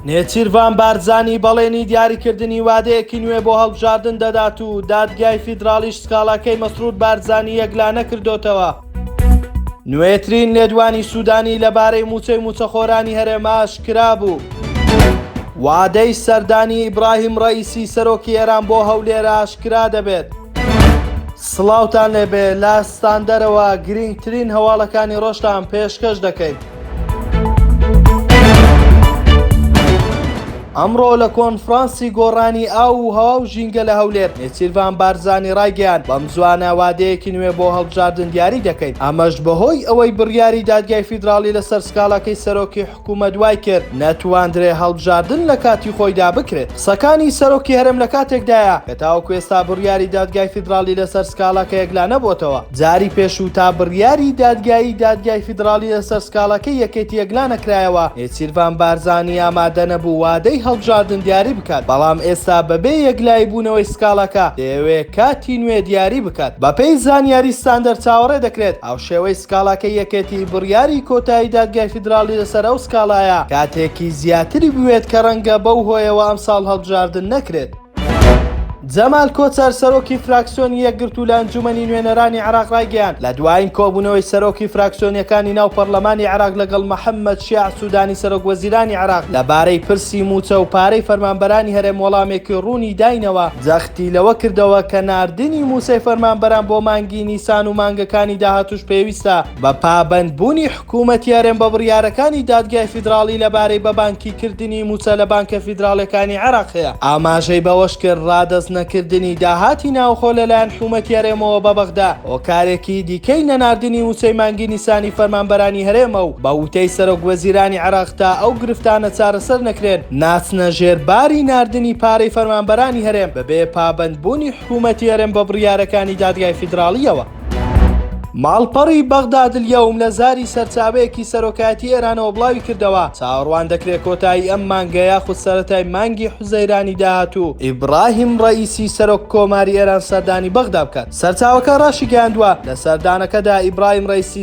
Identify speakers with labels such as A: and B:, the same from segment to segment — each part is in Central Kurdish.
A: نێچیرڤان بارزانی بەڵێنی دیاریکردنی وادەیەکی نوێ بۆ هەڵبژاردن دەدات و دادگای فیدراڵیش سکاڵاکەی مەسرور بارزانی یەکلانە کردوتەوە. نوێترین لێدوانی سوودانی لەبارەی مووچەی مووچەخۆرانی هەرێمە ئاشکرا بوو. وادەی سەردانی ئیبراهیم ڕەئیسی سەرۆکی ئێران بۆ هەولێر ئاشکرا دەبێت. سڵاوتان لێبێ لە ستاندەرەوە گرینگترین هەواڵەکانی ڕۆژتان پێشکەش دەکەین. ئەمڕۆ لە کۆنفرانسی گۆڕانی ئاو و هەوا و ژینگە لە هەولێر نێچیرڤان بارزانی ڕایگەیان بەم زوانە وادەیەکی نوێ بۆ هەڵبژاردن دیاری دەکەین ئەمەش بەهۆی ئەوەی بڕیاری دادگای فیدراڵی لەسەر سکاڵاکەی سەرۆکی حکوومەت وای کرد نەتواندرێ هەڵبژاردن لە کاتی خۆیدا بکرێت. سەکانی سەرۆکی هەرێم لە کاتێکدایە کە تاوەکو ئێستا بڕیاری دادگای فیدراڵی لەسەر سکاڵاکە یەکلا نەبۆتەوە. جاری پێشوو تا بڕیاری دادگایی دادگای فیدراڵی لەسەر سکاڵاکەی یەکێتی یەکلا نەکرایەوە، نێچیرڤان بارزانی ئامادە نەبوو وادەی هەڵبژاردن دیاری بکات، بەڵام ئێستا بەبێ یەکلایی بوونەوەی سکاڵاکە دەیەوێ کاتی نوێ دیاری بکات. بەپێی زانیاری ستاندەر چاوەڕێ دەکرێت هاوشێوەی سکاڵاکەی یەکێتی بڕیاری کۆتایی دادگای فیدراڵی لەسەر ئەو سکاڵایە کاتێکی زیاتری بوێت کە ڕەنگە بەو هۆیەوە ئەمساڵ هەڵبژاردن نەکرێت. جەمال کۆچەر، سەرۆکی فراکسیۆنی یەکگرتوو لە ئەنجوومەنی نوێنەرانی عێراق ڕایگەیاند، لە دوایین کۆبوونەوەی سەرۆکی فراکسیۆنییەکانی ناو پەرلەمانی عێراق لەگەڵ محەممەد شیاع سوودانی سەرۆکوەزیرانی عێراق لەبارەی پرسی مووچە و پارەی فەرمانبەرانی هەرێم وەڵامێکی ڕوونی داینەوە، جەختی لەوە کردەوە کە ناردنی مووچەی فەرمانبەران بۆ مانگی نیسان و مانگەکانی داهاتووش پێویستە بە پابەندبوونی کومەتیارن بە بڕیارەکانی دادگای فیدراڵی لەبارەی بە بانکی کردنی مووچە لە بانکە فیدراڵیەکانی عێراق هەیە. ئاماژەی بەوەشکرد، ڕادەست نەکردنی داهاتی ناوخۆ لەلایەن حومەتی هەرێمەوە بە بەغدا، هۆکارێکی دیکەی نەناردنی ووچەی مانگی نیسانی فەرمانبەرانی هەرێمە و بە ووتەی سەرۆک وەزیرانی عێراق تا ئەو گرفتانە چارەسەر نەکرێن ناچنە ژێر باری ناردنی پارەی فەرمانبەرانی هەرێم بەبێ پابەندبوونی حکومەتی هەرێم بە بڕیارەکانی دادگای فیدراڵیەوە. ماڵپەڕی بەغدادلیەوم لە زاری سەرچاوەیەکی سەرۆکایەتی ئێرانەوە بڵاویکردەوە، چاوەڕوان دەکرێت کۆتایی ئەم مانگە یاخود سەرەتای مانگی حوزەیرانی داهاتوو ئیبراهیم ڕەئیسی سەرۆک کۆماری ئێران سەردانی بەغدا بکات. سەرچاوەکە ڕاشیگەیاندووە، لە سەردانەکەدا ئیبراهیم ڕەئیسی،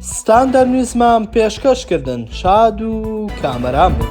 A: ستاندەرنیزمان پێشکەش کردن شاد و کامەران بن.